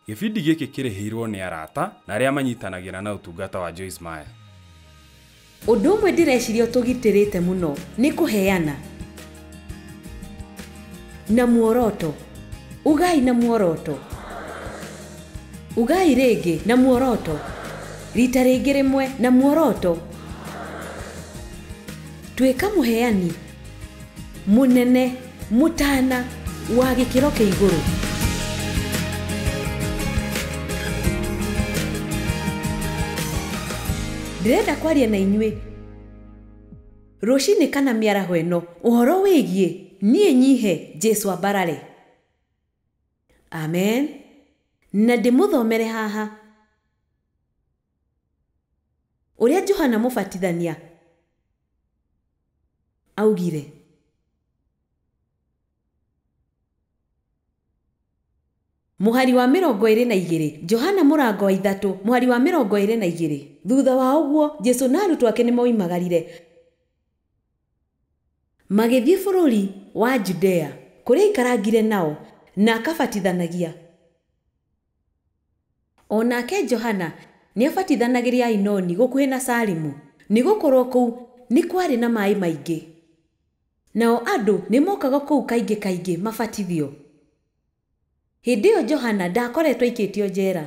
Gĩbindi gĩkĩ kĩrĩhĩirwo nĩ arata na arĩa manyitanagĩra na ũtungata wa Joyce Meyer. Ũndũ ũmwe ndĩreciria ũtũgitĩrĩte mũno nĩ kũheana na muoroto. Ugai na muoroto. Ugai rĩngĩ na muoroto. Rita rĩngĩ rĩmwe na muoroto. Tuĩka mũheani. mũnene mũtana wa gĩkĩro kĩa igũrũ ndĩrenda kwaria na inyuĩ rũcinĩ kana mĩaraho ĩno ũhoro wĩgiĩ niĩ nyihe jesu ambarare amen na ndĩmũthomere haha ũrĩa johana mũbatithania Augire. Mũhari wa mĩrongo ĩrĩ na igĩrĩ, Johana mũrango wa ithatũ, mũhari wa mĩrongo ĩrĩ na igĩrĩ. Thutha wa ũguo, Jesu na arutwo ake nĩ moimagarire. Magĩthiĩ bũrũri wa Judea, kũrĩa aikarangire nao, na akabatithanagia. O nake Johana nĩabatithanagĩria Ainoni gũkuhĩ na Salimu, nĩgũkorwo kũu nĩ kwarĩ na maĩ maingĩ. Nao andũ nĩmookaga kũu kaingĩ kaingĩ mabatithio. Hĩndĩ ĩyo Johana ndaakoretwo aikĩtio njera.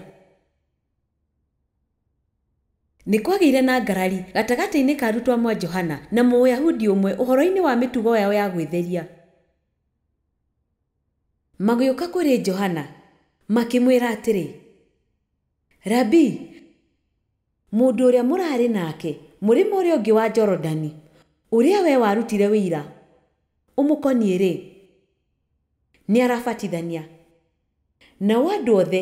Nĩkwagĩire na ngarari gatagatĩ-inĩ ka arutwo a mwa Johana na Mũyahudi ũmwe ũhoro-inĩ wa mĩtugo yao ya gwĩtheria. Magĩũka kũrĩ Johana, makĩmwĩra atĩrĩ, Rabii, mũndũ ũrĩa mũraarĩ nake mũrĩmo ũrĩa ũngĩ wa Jorodani, ũrĩa wee warutire ũira ũmũkoniĩ-rĩ, nĩarabatithania, nao andũ othe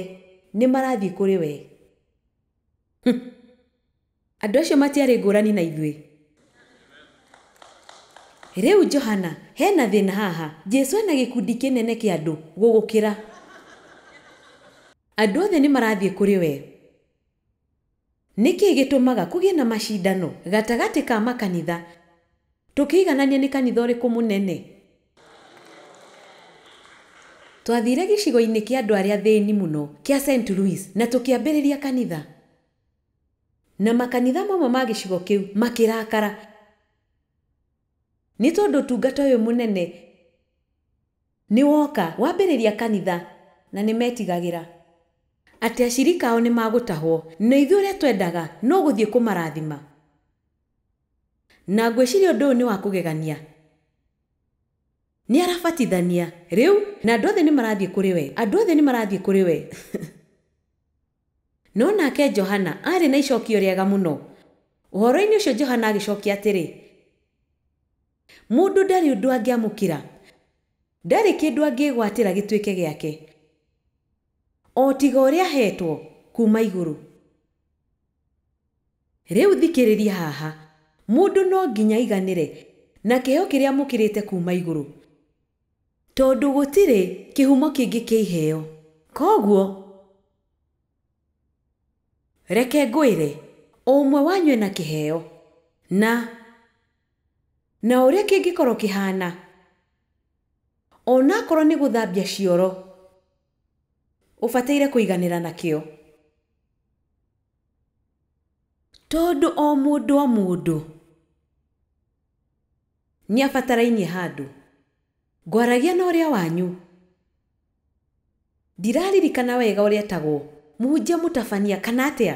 nĩmarathiĩ kũrĩ wee. Andũ acio matiarĩ ngũrani na ithuĩ. Rĩu Johana, he na thĩna haha. Jesu ena gĩkundi kĩnene kĩa andũ gũgũkĩra. Andũ othe nĩ marathiĩ kũrĩ we. Nĩ kĩĩ gĩtũmaga kũgĩe na macindano gatagatĩ ka makanitha, tũkĩiganania nĩ kanitha ũrĩkũ mũnene? Twathiire gĩcigo-inĩ kĩa andũ arĩa athĩni mũno kĩa Saint Louis na tũkĩambĩrĩria kanitha. Na makanitha mamwe ma gĩcigo kĩu makĩrakara nĩ tondũ ũtungata ũyũ mũnene nĩ woka wambĩrĩria kanitha na nĩ metigagĩra atĩ acirika ao nĩ magũtahwo. Na ithuĩ ũrĩa twendaga no gũthiĩ kũmarathima. Na ngwĩciria ũndũ ũyũ nĩ wa kũgegania. Nĩ arabatithania rĩu na andũ othe nĩ marathiĩ kũrĩ we, andũ othe nĩ marathiĩ kũrĩ we. No nake Johana aarĩ na icokio rĩega mũno. Ũhoro-inĩ ũcio Johana agĩcokia atĩrĩ, Mũndũ ndarĩ ũndũ angĩamũkĩra, ndarĩ kĩndũ angĩĩgwatĩra gĩtuĩke gĩake, o tiga ũrĩa aheetwo kuuma igũrũ. Rĩu thikĩrĩria haha, mũndũ no nginya aiganĩre na kĩheo kĩrĩa amũkĩrĩte kuuma igũrũ. Tondũ gũtirĩ kĩhumo kĩngĩ kĩa iheo. Kwoguo reke ngwĩre, o ũmwe wanyu ena kĩheo, na, na o ũrĩa kĩngĩkorũo kĩhaana, o na akorũo nĩ gũthambia cioro ũbataire kũiganĩra nakĩo, tondũ o mũndũ o mũndũ. Nĩabatarainie handũ. Ngwaragia na ũrĩa wanyu. Ndiraririkana wega ũrĩa etagwo. Mũhunjia Mũtabania, kana atĩa?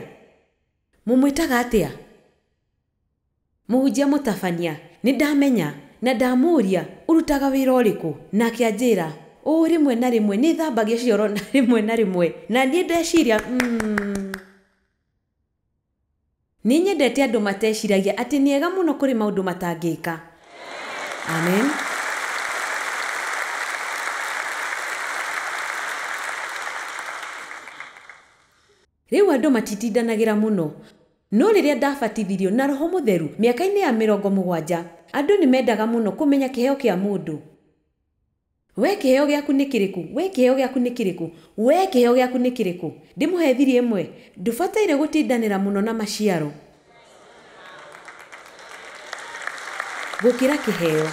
Mũmwĩtaga atĩa? Mũhunjia Mũtabania, Nĩndamenya, na ndamũũria, Ũrutaga wĩra ũrĩkũ? Nake anjĩra, Ũũ rĩmwe na rĩmwe nĩthambagia cioro na rĩmwe na rĩmwe. Na niĩ ndeciria, Umm. Nĩ nyendete andũ mateciragia atĩ nĩ ega mũno kũrĩ maũndũ matangĩka. Amen. Rĩu andũ matitindanagĩra mũno. No rĩrĩa ndabatithirio na roho mũtheru mĩaka-inĩ ya mĩrongo mũgwanja, andũ nĩ mendaga mũno kũmenya kĩheo kĩa mũndũ. Wee kĩheo gĩaku nĩ kĩrĩkũ? Wee kĩheo gĩaku nĩ kĩrĩkũ? Wee kĩheo gĩaku nĩ kĩrĩkũ? Ndĩmũhe thiri ĩmwe? Ndũbataire gũtindanĩra mũno na maciaro gũkĩra kĩheo.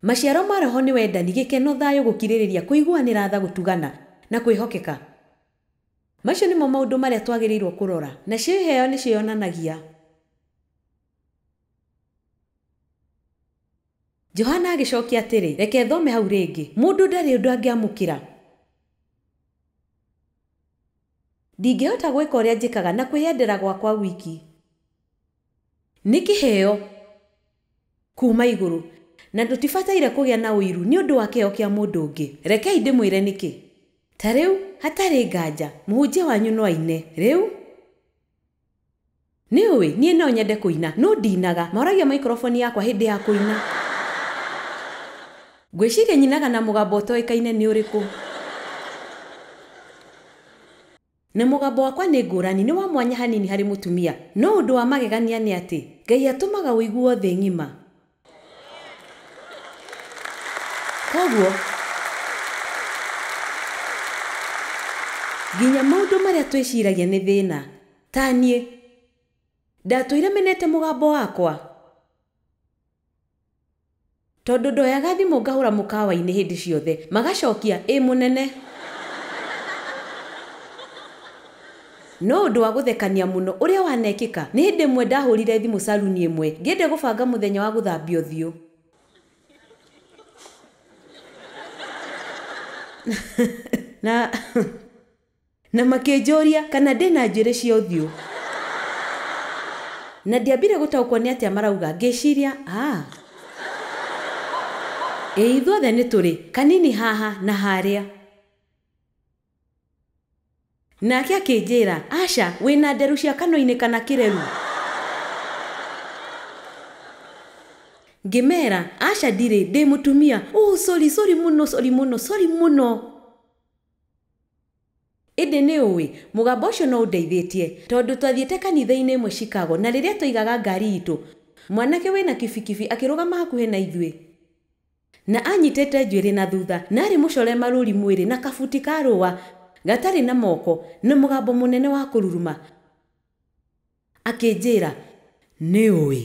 Maciaro ma roho nĩ wendani, gĩkeno, thayũ, gũkirĩrĩria, kũiguanĩra tha, gũtugana, na kwĩhokeka. Macio nĩmo maũndũ marĩa twagĩrĩirũo kũrora. Nacio iheo nĩcio ionanagia. Johana agĩcookia atĩrĩ, Reke thome hau rĩngĩ. Mũndũ ndarĩ ũndũ angĩamũkĩra. Ndingĩhota gwĩka ũrĩa njĩkaga na kwĩyendera gwakwa wiki. Nĩ kĩheo kuuma igũrũ, na ndũtibataire kũgĩa na ũiru nĩ ũndũ wa kĩheo kĩa mũndũ ũngĩ. Rekei ndĩmwĩre nĩkĩ. Ta rĩu, hatarĩ nganja, mũhunjia wanyu no aine. Rĩu. Nĩũĩ, niĩ no nyende kũina, no ndinaga. Moragia maikroboni yakwa hĩndĩ ya kũina. Ngwĩciria nyinaga na mũgambo ũtoĩkaine nĩ ũrĩkũ. Na mũgambo wakwa nĩ ngũrani, nĩ wa mwanya hanini harĩ mũtumia. No ũndũ wa magegania nĩ atĩ, Ngai atũmaga ũiguo thĩ ng'ima. Koguo, nginya maũndũ marĩa twĩciragia nĩ thĩna, ta niĩ, ndatũire menete mũgambo wakwa, tondũ ndoyaga thimũ ngahũra mũkawa-inĩ hĩndĩ ciothe, magacokia, ĩĩ mũnene. No ũndũ wa gũthekania mũno ũrĩa wanekĩka, nĩ hĩndĩ ĩmwe ndahũrire thimũ saruni ĩmwe ngĩendia gũbanga mũthenya wa gũthambia ũthiũ. Na na makĩnjũria kana ndĩ na njuĩrĩ cia ũthiũ. Na ndiambire gũtaũkwo nĩ atĩa marauga ngĩciria aa. Ĩĩ ithuothe nĩ tũrĩ. Kanini haha na harĩa. Nake akĩnjĩĩra, Aca, wĩ na nderu cia kanua-inĩ kana kĩreru? Ngĩmeera, Aca ndirĩ, ndĩ mũtumia. Ũũ, sorry, sorry mũno, sorry mũno, sorry mũno! Ĩndĩ nĩ ũĩ, mũgambo ũcio no ũndeithĩĩtie. Tondũ twathiĩte kanitha-inĩ ĩmwe Chicago, na rĩrĩa twaigaga ngaari iitũ, mwanake wĩ na kibikibi akĩrũgama hakuhĩ na ithuĩ. Na anyitĩte njuĩrĩ na thutha, na arĩ mũcore marũũri mwĩrĩ, na kabuti ka rũũa, gatarĩ na moko, na mũgambo mũnene wa kũruruma, akĩnjĩĩra, Nĩũũĩ?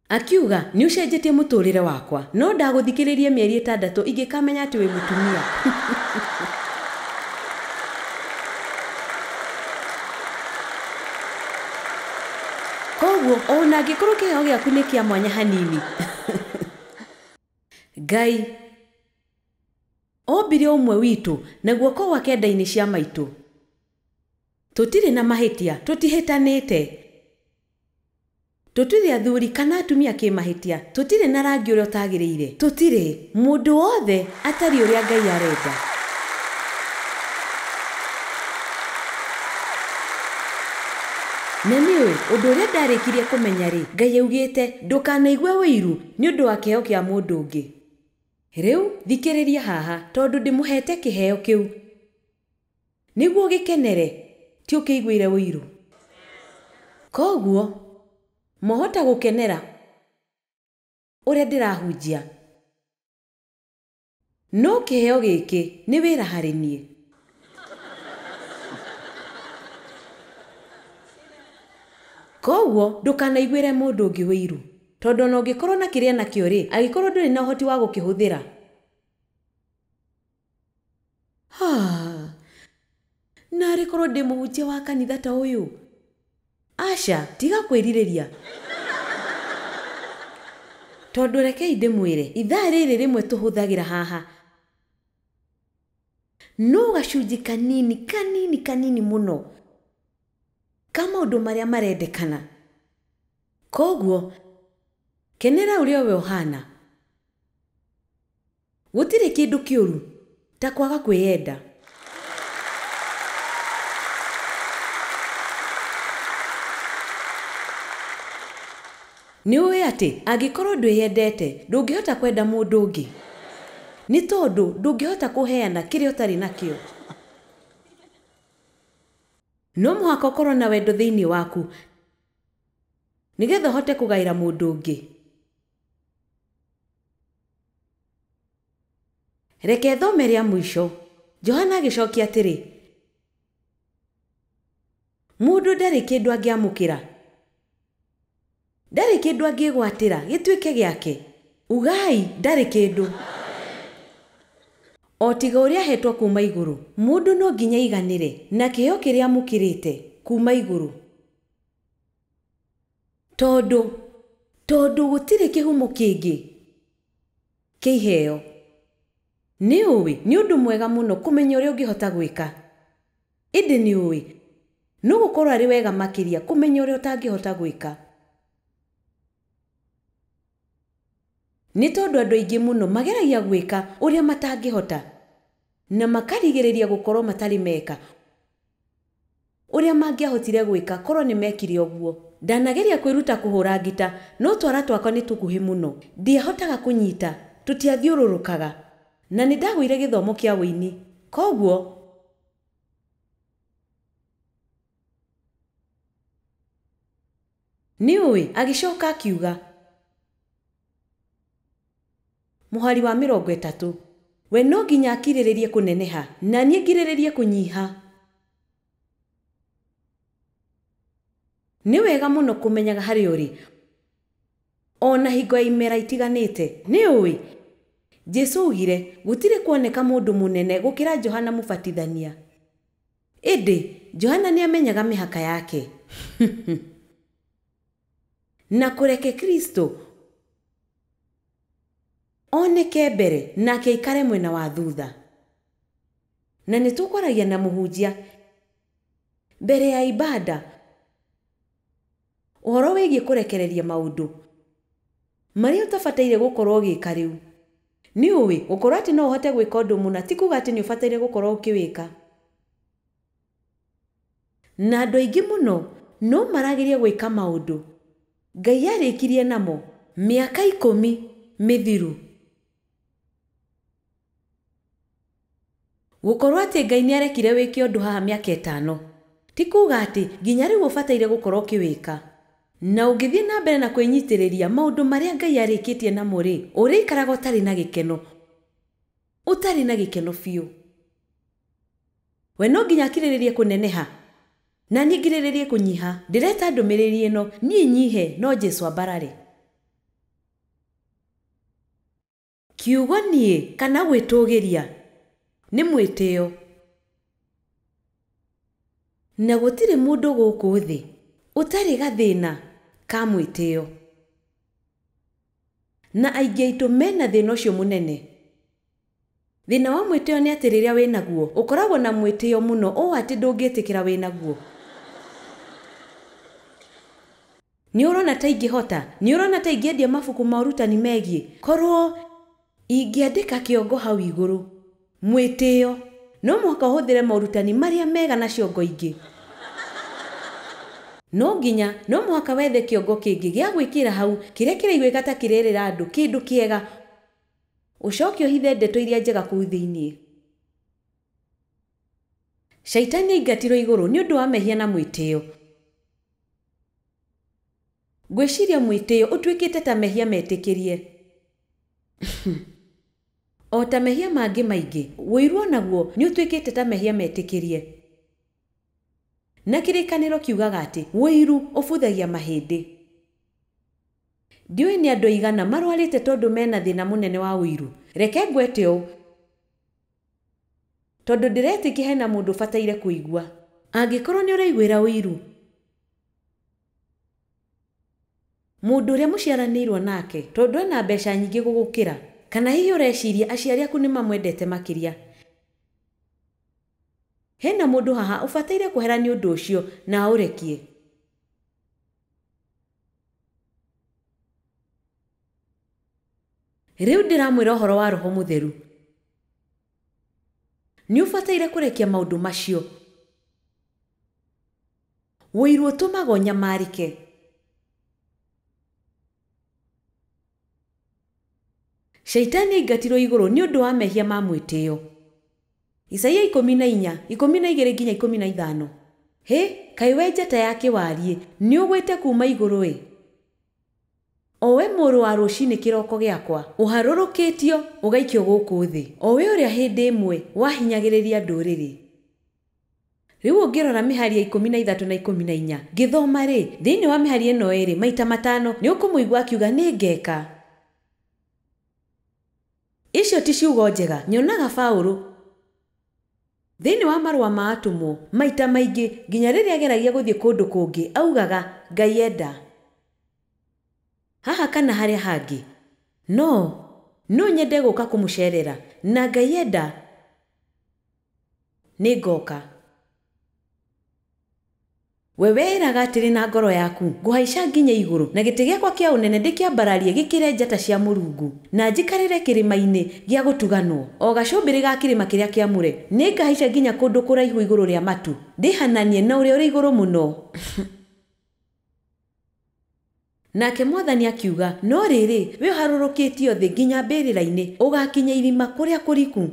Akiuga, Nĩũcenjetie mũtũũrĩre wakwa. No ndagũthikĩrĩirie mĩeri ĩtandatũ ingĩkamenya atĩ wĩ mũtumia. Kwoguo, o na angĩkorũo kĩheo gĩaku nĩ kĩa mwanya hanini, Ngai. Ombire ũmwe witũ, na guoko gwake nda-inĩ cia maitũ. Tũtirĩ na mahĩtia, tũtihĩtanĩte. Tũtirĩ athuri kana atumia kĩmahĩtia, tũtirĩ na rangi ũrĩa ũtagĩrĩire, tũtirĩ mũndũ wothe atariĩ ũrĩa Ngai arenda. Na nĩũĩ, ũndũ ũrĩa ndarĩkirie kũmenya-rĩ, Ngai augĩte, Ndũkanaigue ũiru nĩ ũndũ wa kĩheo kĩa mũndũ ũngĩ. Rĩu thikĩrĩria haha, tondũ ndĩmũheete kĩheo kĩu nĩguo ũgĩkenere, ti ũkĩiguĩre ũiru. Kwoguo mwahota gũkenera ũrĩa ndĩrahunjia. No kĩheo gĩkĩ nĩ wĩra harĩ niĩ. Kwoguo ndũkanaiguĩre mũndũ ũngĩ ũiru, tondũ o na ũngĩkorũo na kĩrĩa enakĩo-rĩ, angĩkorũo ndũrĩ na ũhoti wa gũkĩhũthĩra, Ah, narĩ korwo ndĩ mũhunjia wa kanitha ta ũyũ aca tiga kwĩrirĩria tondũ rekei ndĩmwĩre ithaa rĩrĩ rĩmwe tũhũthagĩra haha no gacunjĩ kanini kanini kanini mũno ka maũndũ marĩa marendekana koguo kenera ũrĩa we ũhana Gũtirĩ kĩndũ kĩũru ta kwaga kwĩyenda. Nĩ ũĩ atĩ angĩkorũo ndwĩyendete, ndũngĩhota kwenda mũndũ ũngĩ, nĩ tondũ ndũngĩhota kũheana kĩrĩa ũtarĩ nakĩo. No mũhaka ũkorũo na wendo thĩinĩ waku nĩgetha ũhote kũgaĩra mũndũ ũngĩ. Reke thome rĩa mũico. Johana agĩcokia atĩrĩ, Mũndũ ndarĩ kĩndũ angĩamũkĩra, ndarĩ kĩndũ angĩĩgwatĩra gĩtuĩke gĩake, ugai, ndarĩ kĩndũ, o tiga ũrĩa aheetwo kuuma igũrũ. Mũndũ no nginya aiganĩre na kĩheo kĩrĩa amũkĩrĩte kuuma igũrũ. Tondũ, tondũ gũtirĩ kĩhumo kĩngĩ kĩa iheo. Nĩ ũĩ, nĩ ũndũ mwega mũno kũmenya ũrĩa ũngĩhota gwĩka. Ĩndĩ nĩ ũĩ, no gũkorũo arĩ wega makĩria kũmenya ũrĩa ũtangĩhota gwĩka. Nĩ tondũ andũ aingĩ mũno mageragia gwĩka ũrĩa matangĩhota, na makarigĩrĩria gũkorũo matarĩ meka Ũrĩa mangĩahotire gwĩka korũo nĩ meekire ũguo. Ndanageria kwĩruta kũhũũra ngita, no twara twakwa nĩ tũkuhĩ mũno. Ndiahotaga kũnyita. Tũtiathiũrũrũkaga. Na nĩ ndagũire gĩthomo kĩa ũini. Kwoguo. Nĩũĩ? Agĩcoka akiuga. Mũhari wa mĩrongo ĩtatũ. We no nginya akirĩrĩrie kũneneha, na niĩ ngirĩrĩrie kũnyiha. Nĩ wega mũno kũmenyaga harĩa ũrĩ o na hingo ya imera itiganĩte. Nĩ ũĩ? Jesu aaugire, Gũtirĩ kuoneka mũndũ mũnene gũkĩra Johana Mũbatithania. Ĩndĩ, Johana nĩ aamenyaga mĩhaka yake. Na kũreke Kristo. Oneke mbere, nake aikare mwena wa thutha. Na nĩ tũkwaragia na mũhunjia mbere ya ibada ũhoro wĩgiĩ kũrekereria maũndũ marĩa ũtabataire gũkorũo ũgĩka rĩu. Nĩ ũĩ, gũkorũo atĩ no ũhote gwĩka ũndũ mũna ti kuuga atĩ nĩ ũbataire gũkorũo ũkĩwĩka. Na andũ aingĩ mũno no marageria gwĩka maũndũ Ngai arĩkirie namo mĩaka ikũmi mĩthiru. Gũkorũo atĩ Ngai nĩ arekire wĩke ũndũ haha mĩaka ĩtano, ti kuuga atĩ nginya rĩu ũbataire gũkorũo ũkĩwĩka. Na ũngĩthiĩ na mbere na kwĩnyitĩrĩria maũndũ marĩa Ngai arĩkĩtie namo-rĩ, ũrĩikaraga ũtarĩ na gĩkeno. Ũtarĩ na gĩkeno biũ. We no nginya akirĩrĩrie kũneneha na niĩ ngirĩrĩrie kũnyiha ndĩreta ndũmĩrĩri ĩno niĩ nyihe no Jesu ambarare. Kiugo niĩ kana gwĩtũgĩria nĩ mwĩtĩo. Na gũtirĩ mũndũ gũkũ thĩ ũtarĩ gathĩna ka mwĩtĩo. Na aingĩ aitũ me na thĩna ũcio mũnene. Thĩna wa mwĩtĩo nĩ atĩ rĩrĩa wĩ naguo, ũkoragwo na mwĩtĩo mũno ũũ atĩ ndũngĩtĩkĩra wĩ naguo. Nĩ ũrona ta ingĩhota? Nĩ ũrona ta ingĩendia mabuku ma ũrutani megiĩ? Korũo. Ingĩandĩka kĩongo hau igũrũ, Mwĩtĩo, no mũhaka ũhũthĩre morutani marĩa mega na ciongo ingĩ. No nginya, no mũhaka wethe kĩongo kĩngĩ gĩa gwĩkĩra hau kĩrĩa kĩraiguĩka ta kĩrerĩra andũ kĩndũ kĩega. Ũcoke ũhithe ndeto iria njega kũu thĩinĩ. Shaitani aingatirwo igũrũ nĩ ũndũ wa mehia na mwĩtĩo. Ngwĩciria mwĩtĩo ũtuĩkĩte ta mehia metĩkĩrie. O ta mehia mangĩ maingĩ, ũiru o naguo nĩ ũtuĩkĩte ta mehia metĩkĩrie. Na kĩrĩkanĩro kiugaga atĩ ũiru ũbuthagia mahĩndĩ. Ndiũĩ nĩ andũ aigana marwarĩte tondũ mena thĩna mũnene wa ũiru. Reke ngwete ũũ, tondũ ndĩretĩkia hena mũndũ ũbataire kũigua. Angĩkorwo nĩ ũraiguĩra ũiru. Mũndũ ũrĩa mũciaranĩirũo nake tondũ ena mbeca nyingĩ gũgũkĩra? Kana hihi ũreciria aciari aku nĩ mamwendete makĩria? Hena mũndũ haha ũbataire kwehera nĩ ũndũ ũcio na aũrekie? Rĩu ndĩramwĩra ũhoro wa Roho Mũtheru. Nĩ ũbataire kũrekia maũndũ macio. Woiru ũtũmaga ũnyamarĩke. Shaitani aingatirwo igũrũ nĩ ũndũ wa mehia ma mwĩtĩo. Isaia ikũmi na inya, ikũmi na igĩrĩ nginya ikũmi na ithano. Hĩ! Kaĩ wee njata ya kĩwariĩ, nĩũgwĩte kuuma igũrũ-ĩ! O wee mũrũ wa rũcinĩ kĩroko gĩakwa, ũharũrũkĩtio, ũgaikio gũkũ thĩ, o wee ũrĩa hĩndĩ ĩmwe wahinyagĩrĩria ndũrĩrĩ. Rĩu ũngĩrora mĩhari ya ikũmi na ithatũ na ikũmi na inya, ngĩthoma-rĩ, thĩinĩ wa mĩhari ĩno ĩĩrĩ, maita matano nĩ ũkũmũigua akiuga, Nĩngeka. Icio ti ciugo njega. Nyonaga Paulo, thĩinĩ wa Marũa ma Atũmwo, maita maingĩ, nginya rĩrĩa ageragia gũthiĩ kũndũ kũngĩ, augaga, Ngai enda. Haha kana harĩa hangĩ. No. No nyende gũka kũmũceerera. Na Ngai enda. Nĩngooka. We weĩraga atĩrĩ na ngoro yaku, Ngũhaica nginye igũrũ, na gĩtĩ gĩakwa kĩa ũnene ndĩkĩambararie gĩkĩre njata cia Mũrungu, na njikarĩre kĩrĩma-inĩ gĩa gũtuganwo, o gacũmbĩrĩ ga kĩrĩma kĩrĩa kĩamũre. Nĩngahaica nginya kũndũ kũraihu igũrũ rĩa matu, ndĩhananie na Ũrĩa-ũrĩ-Igũrũ-Mũno. Nake Mwathani akiuga, No rĩrĩ, wee ũharũrũkĩtio thĩ nginya mbĩrĩra-inĩ, ũgaakinya irima kũrĩa kũriku,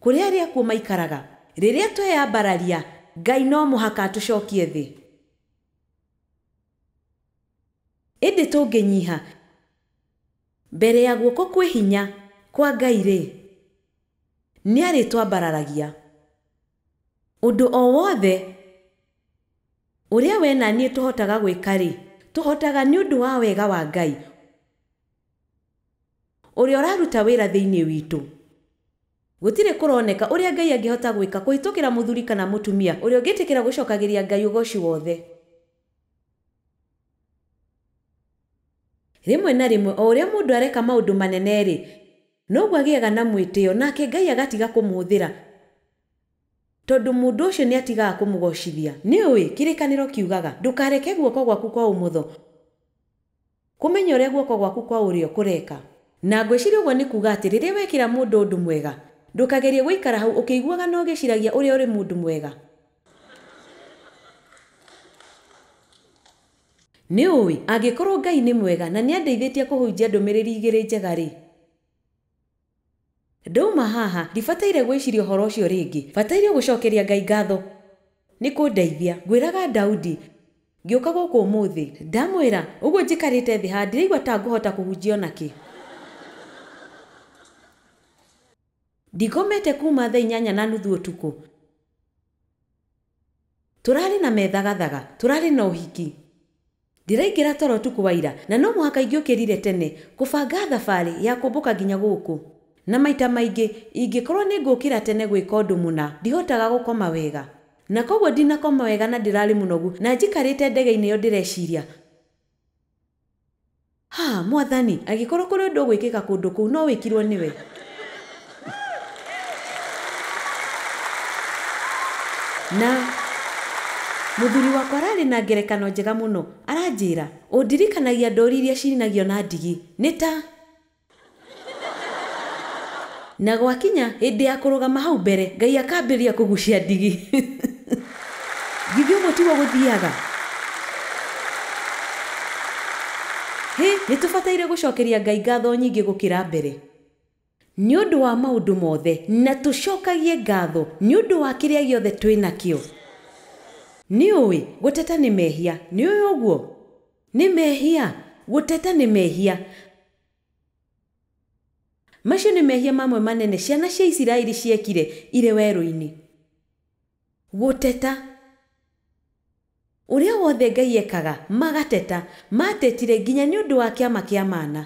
kũrĩa arĩa akuũ maikaraga. Rĩrĩa tweyambararia, Ngai no mũhaka atũcokie thĩ. Ĩndĩ tũngĩnyiha mbere ya guoko kwĩ hinya kwa Ngai-rĩ, nĩarĩtwambararagia. Ũndũ o wothe. Ũrĩa wee na niĩ tũhotaga gwĩka-rĩ, tũhotaga nĩ ũndũ wa wega wa Ngai ũrĩa ũraruta wĩra thĩinĩ witũ. Gũtirĩ kũroneka ũrĩa Ngai angĩhota gwĩka kũhĩtũkĩra mũthuri kana mũtumia ũrĩa ũngĩtĩkĩra gũcokagĩria Ngai ũgooci wothe. Rĩmwe na rĩmwe o ũrĩa mũndũ areka maũndũ manene-rĩ, noguo agĩaga na mwĩtĩo, nake Ngai agatiga kũmũhũthĩra. Tondũ mũndũ ũcio nĩatigaga kũmũgoocithia. Nĩũũĩ, kĩrĩkanĩro kiugaga, Ndũkareke guoko gwaku kwa ũmotho kũmenya ũrĩa guoko gwaku kwa ũrĩo kũreka. Na ngwĩciria ũguo nĩ kuuga atĩ rĩrĩa wekĩra mũndũ ũndũ mwega, ndũkagerie gũikara hau ũkĩiguaga na ũgĩciragia ũrĩa ũrĩ mũndũ mwega. Nĩũũĩ, angĩkorũo Ngai nĩ mwega na nĩandeithĩtie kũhunjia ndũmĩrĩri igĩrĩ njega-rĩ, Ndauma haha, ndibataire gwĩciria ũhoro ũcio rĩngĩ. Bataire gũcokeria Ngai ngatho nĩ kũndeithia. Ngwĩraga Daudi, ngĩũka gũkũ ũmũthĩ. Ndamwĩra ũguo njikarĩte thĩ haha, ndiraigua ta ngũhota kũhunjia o na kĩ. Ndikomete kuuma thaa inyanya na nuthu ũtukũ. Tũrarĩ na methagathaga, tũrarĩ na ũhiki. Ndĩraingĩra toro ũtukũ wa ira, na no mũhaka ingĩũkĩrire tene kũbanga thabarĩ ya kũmbũka nginya gũkũ. Na maita maingĩ, ingĩkorũo nĩ ngũũkĩra tene gwĩka ũndũ mũna, ndihotaga gũkoma wega. Na kwoguo ndinakoma wega na ndĩrarĩ mũnogu na njikarĩte ndege-inĩ ĩyo ndĩreciria. Ha, Mwathani, angĩkorwo kũrĩ ũndũ ũgwĩkĩka kũndũ kũu, no wĩkirwo nĩwe. Na mũthuri wakwa ararĩ na ngerekano njega mũno. Aranjĩra, Ũndirikanagia ndũũri iria ciinagio na ndigi. Nĩ ta. Na gwakinya hĩndĩ ya kũrũgama hau mbere, Ngai akambĩrĩria kũgucia ndigi. Githĩ ũguo tiguo gũthiaga? Hĩ, nĩ tũbataire gũcokeria Ngai ngatho nyingĩ gũkĩra mbere nĩ ũndũ wa maũndũ mothe, na tũcokagie ngatho nĩ ũndũ wa kĩrĩa gĩothe twĩ nakĩo? Nĩ ũĩ, gũteta nĩ mehia. Nĩ ũĩ ũguo? Nĩ mehia? Gũteta nĩ mehia? Macio nĩ mehia mamwe manene ciana cia Isiraeli ciekire irĩ werũ-inĩ. Gũteta. Ũrĩa wothe Ngai ekaga, magateta. Maatetire nginya nĩ ũndũ wa kĩama kĩa mana.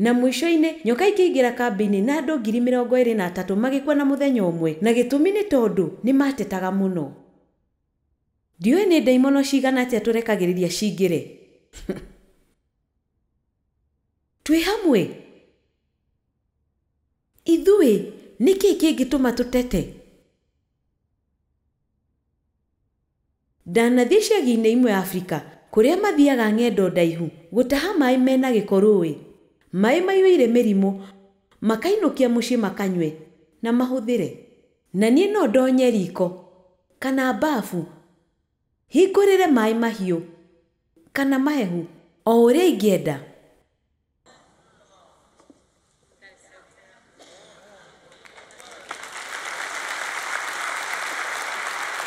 Na mũico-inĩ, nyoka ikĩingĩra kambĩ-inĩ, na andũ ngiri mĩrongo ĩĩrĩ na atatũ magĩkua na mũthenya ũmwe, na gĩtũmi nĩ tondũ nĩ maatetaga mũno. Ndiũĩ nĩ ndaimono cigana atĩa tũrekagĩrĩria cingĩre. Twĩ hamwe? Ithuĩ, nĩ kĩĩ kĩngĩtũma tũtete? Ndanathiĩ icagi-inĩ imwe Afrika kũrĩa mathiaga ng'endo ndaihu gũtaha maĩ me na gĩko rũũĩ, maĩ maiyũire mĩrimũ, makainũkia mũciĩ makanyue na mahũthĩre. Na niĩ no ndonye riko, kana mbafu, hingũrĩre maĩ mahiũ, kana mahehu, o ũrĩa ingĩenda?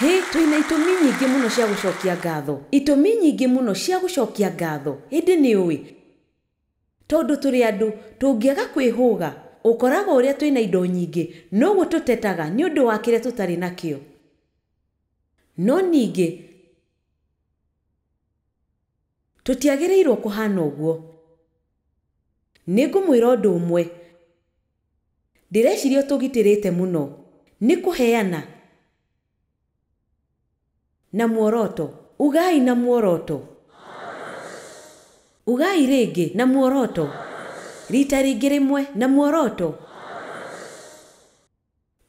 Hĩ, twĩ na itũmi nyingĩ mũno cia gũcokia ngatho. Itũmi nyingĩ mũno cia gũcokia ngatho. Ĩndĩ nĩ ũĩ, tondũ tũrĩ andũ, tũngĩaga kwĩhũga, ũkoragwo ũrĩa twĩ na indo nyingĩ, noguo tũtetaga nĩ ũndũ wa kĩrĩa tũtarĩ nakĩo. No ningĩ. Tũtiagĩrĩirũo kũhaana ũguo. Nĩ ngũmwĩra ũndũ ũmwe. Ndĩreciria ũtũgitĩrĩte mũno nĩ kũheana na muoroto. Ugai na muoroto. Ugai rĩngĩ, na muoroto. Riita rĩngĩ rĩmwe, na muoroto.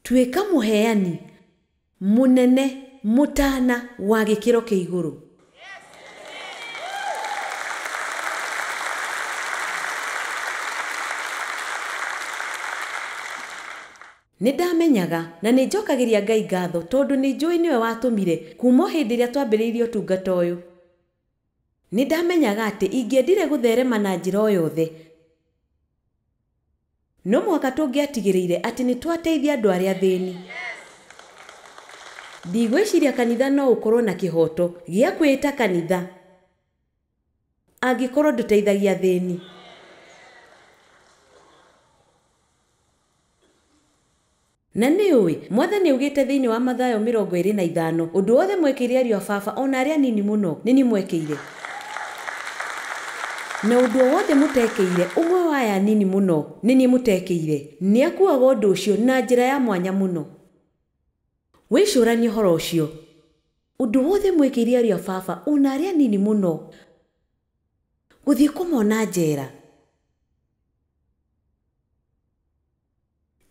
Tuĩka Mũheani Mũnene Mũtaana wa Gĩkĩro kĩa Igũrũ. Nĩ ndamenyaga na nĩ njokagĩria Ngai ngatho tondũ nĩ njũĩ nĩwe watũmire kuuma o hĩndĩ ĩrĩa twambĩrĩirie ũtungata ũyũ. Nĩ ndamenyaga atĩ ingĩendire gũtherema na njĩra o yothe. No mũhaka tũngĩatigĩrĩire atĩ nĩ twateithia andũ arĩa athĩni. Ndigwĩciria kanitha no ũkorũo na kĩhooto gĩa kwĩĩta kanitha angĩkorũo ndũteithagia athĩni. Na nĩũĩ, Mwathani augĩte thĩinĩ wa Mathayo mĩrongo ĩĩrĩ na ithano, Ũndũ wothe mwekeire ariũ a Baba, o na arĩa anini mũno, nĩ niĩ mwekeire. Na ũndũ o wothe mũtekeire ũmwe wa aya anini mũno, nĩ niĩ mũtekeire. Nĩ akuuaga ũndũ ũcio na njĩra ya mwanya mũno. Wĩcũranie ũhoro ũcio. Ũndũ wothe mwekeire ariũ a Baba, o na arĩa anini mũno. Gũthiĩ kũmona njera.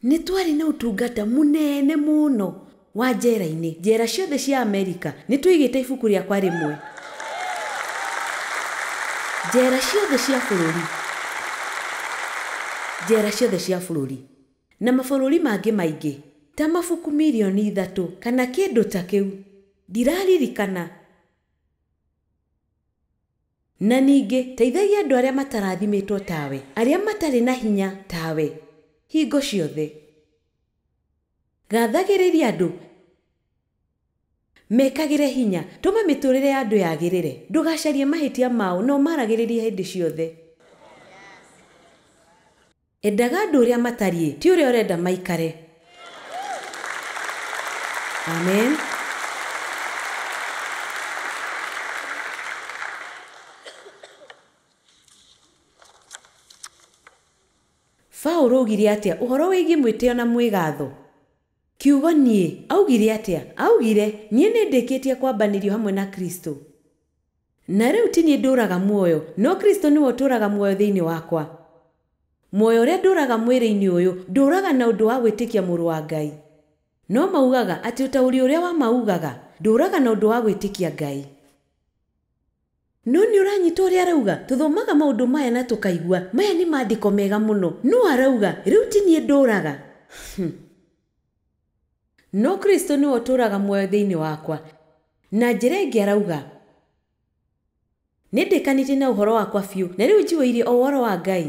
Nĩ twarĩ na ũtungata mũnene mũno wa njera-inĩ, njera ciothe cia Amerika. Nĩ twaigĩte ibuku rĩakwa rĩmwe njera ciothe cia bũrũri, njera ciothe cia bũrũri, na mabũrũri mangĩ maingĩ, ta mabuku milioni ithatũ kana kĩndũ ta kĩu. Ndiraririkana. Na ningĩ teithagia andũ arĩa matarathimĩtwo tawe, arĩa matarĩ na hinya tawe, hingo ciothe. Gathagĩrĩria andũ. Mekagĩre hinya. Tũma mĩtũrĩre ya andũ yagĩrĩre. Ndũgacarie mahĩtia mao, no ũmaragĩrĩrie hĩndĩ ciothe. Endaga andũ ũrĩa matariĩ, ti ũrĩa ũrenda maikare. Amen. Paulo oigire atĩa ũhoro wĩgiĩ mwĩtĩo na mwĩgaatho? Kiugo niĩ. Aaugire atĩa? Aaugire, Niĩ nĩ ndĩkĩtie kwambanĩrio hamwe na Kristo. Na rĩu ti niĩ ndũũraga muoyo, no Kristo nĩwe ũtũũraga muoyo thĩinĩ wakwa. Muoyo ũrĩa ndũũraga mwĩrĩ-inĩ ũyũ, ndũũraga na ũndũ wa gwĩtĩkia Mũrũ wa Ngai. No maugaga atĩ ũtaũri ũrĩa wa ma uugaga, Ndũũraga na ũndũ wa gwĩtĩkia Ngai. No nĩ ũranyita ũrĩa arauga? Tũthomaga maũndũ maya na tũkaigua, Maya nĩ Maandĩko mega mũno. Nũũ arauga, Rĩu ti niĩ ndũũraga? Hum! No Kristo nĩwe ũtũũraga muoyo thĩinĩ wakwa. Na njĩra ĩngĩ arauga, Nĩndĩkanĩtie na ũhoro wakwa biũ, na rĩu njihũirie o ũhoro wa Ngai.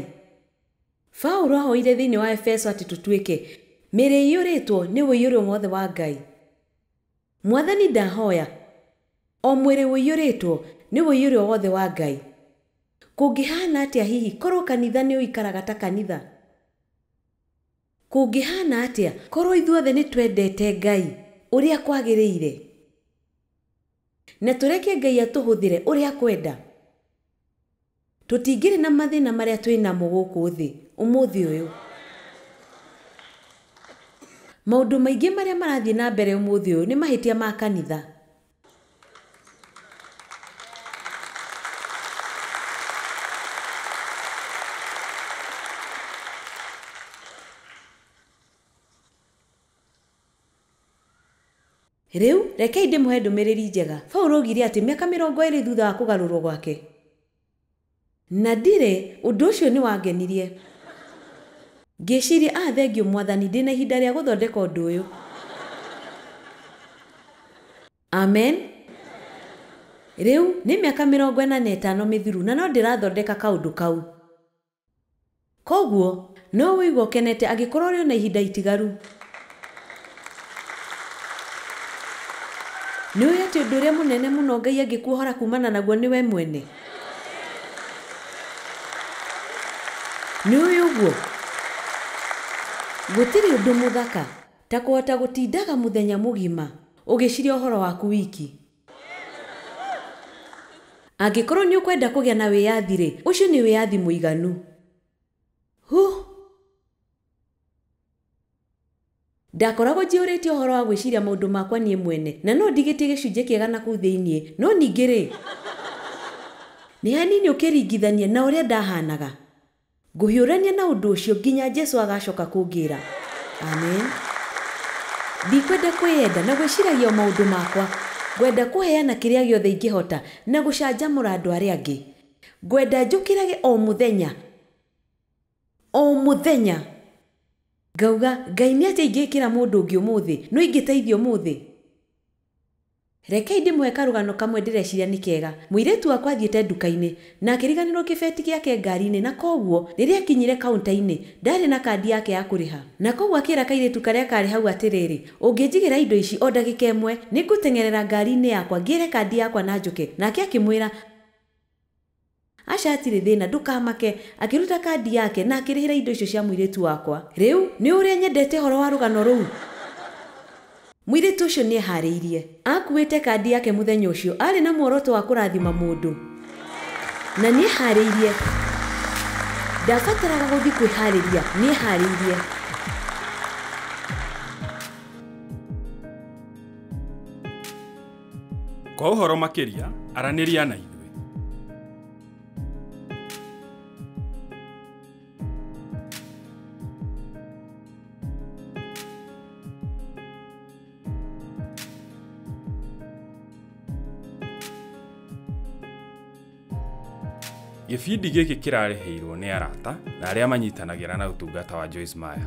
Paulo aahoire thĩinĩ wa Efeso atĩ tũtuĩke mĩĩrĩ ĩiyũrĩtwo nĩ ũiyũrĩrwo wothe wa Ngai. Mwathani ndahoya o mwĩrĩ ũiyũrĩtwo nĩ ũiyũrĩrwo wothe wa Ngai. Kũngĩhaana atĩa hihi korũo kanitha nĩ ũikaraga ta kanitha? Kũngĩhaana atĩa korũo ithuothe nĩ twendete Ngai ũrĩa kwagĩrĩire na tũreke Ngai atũhũthĩre ũrĩa akwenda? Tũtingĩrĩ na mathĩna marĩa twĩ namo gũkũ thĩ ũmũthĩ ũyũ. Maũndũ maingĩ marĩa marathiĩ na mbere ũmũthĩ ũyũ nĩ mahĩtia ma kanitha. Rĩu, rekei ndĩmũhe ndũmĩrĩri njega. Paulo oigire atĩ mĩaka mĩrongo ĩĩrĩ thutha wa kũgarũrũo gwake, Na ndirĩ. Ũndũ ũcio nĩ wangenirie. Ngĩciria, 'Ah, thengiũ, Mwathani, ndĩ na ihinda rĩa gũthondeka ũndũ ũyũ. Amen. Rĩu, nĩ mĩaka mĩrongo ĩna na ĩtano mĩthiru, na no ndĩrathondeka kaũndũ kau. Kwoguo, no ũigua ũkenete angĩkorũo ũrĩ o na ihinda itigaru. Nĩ ũĩ atĩ ũndũ ũrĩa mũnene mũno Ngai angĩkuohora kuumana naguo nĩ we mwene? Nĩ ũĩ ũguo? Gũtirĩ ũndũ mũthaka ta kũhota gũtindaga mũthenya mũgima ũgĩciria ũhoro waku wiki. Angĩkorũo nĩ ũkwenda kũgĩa na wĩyathi-rĩ, ũcio nĩ wĩyathi mũiganu. Huh! Ndakoragwo njiyũrĩtio ũhoro wa gwĩciria maũndũ makwa niĩ mwene, na no ndigĩtie gĩcunjĩ kĩega na kũu thĩinĩ, no ningĩ-rĩ, nĩ hanini ũkĩringithania na ũrĩa ndahaanaga. Ngũhiũrania na ũndũ ũcio nginya Jesu agaacoka kũngĩĩra. Amen. Ndikwenda kwĩyenda na gwĩciragia o maũndũ makwa. Ngwenda kũheana kĩrĩa gĩothe ingĩhota na gũcanjamũra andũ arĩa angĩ. Ngwenda njũkĩrage o mũthenya, o mũthenya, ngauga, Ngai, nĩ atĩa ingĩĩkĩra mũndũ ũngĩ ũmũthĩ? No ingĩteithia ũmũthĩ? Rekei ndĩmũhe karũgano kamwe ndĩreciria nĩ kega. Mũirĩtu wakwa athiĩte nduka-inĩ na akĩriganĩrũo kĩbeti gĩake ngari-inĩ na kwoguo rĩrĩa aakinyire kaunta-inĩ, ndaarĩ na kandi yake ya kũrĩha. Na kwoguo akĩra kairĩtu karĩa kaarĩ hau atĩrĩrĩ, Ũngĩnjigĩra indo ici o ndagĩka ĩmwe, nĩ ngũteng'erera ngari-inĩ yakwa ngĩre kandi yakwa na njũke. Nake akĩmwĩra, Aca hatirĩ thĩna, ndũkamake. Akĩruta kandi yake na akĩrĩhĩra indo icio cia mũirĩtu wakwa. Rĩu, nĩũĩ ũrĩa nyendete ũhoro wa rũgano rũu? Mũirĩtu ũcio nĩ ehaarĩirie. Aakuuĩte kandi yake mũthenya ũcio. Aarĩ na muoroto wa kũrathima mũndũ. Na nĩ ehaarĩirie. Ndaabataraga gũthiĩ kwĩhaarĩria. Nĩ ehaarĩirie. Kwa ũhoro makĩria, aranĩria na ithuĩ. Gĩbindi gĩkĩ kĩrarĩhĩirwo nĩ arata na arĩa manyitanagĩra na ũtungata wa Joyce Meyer.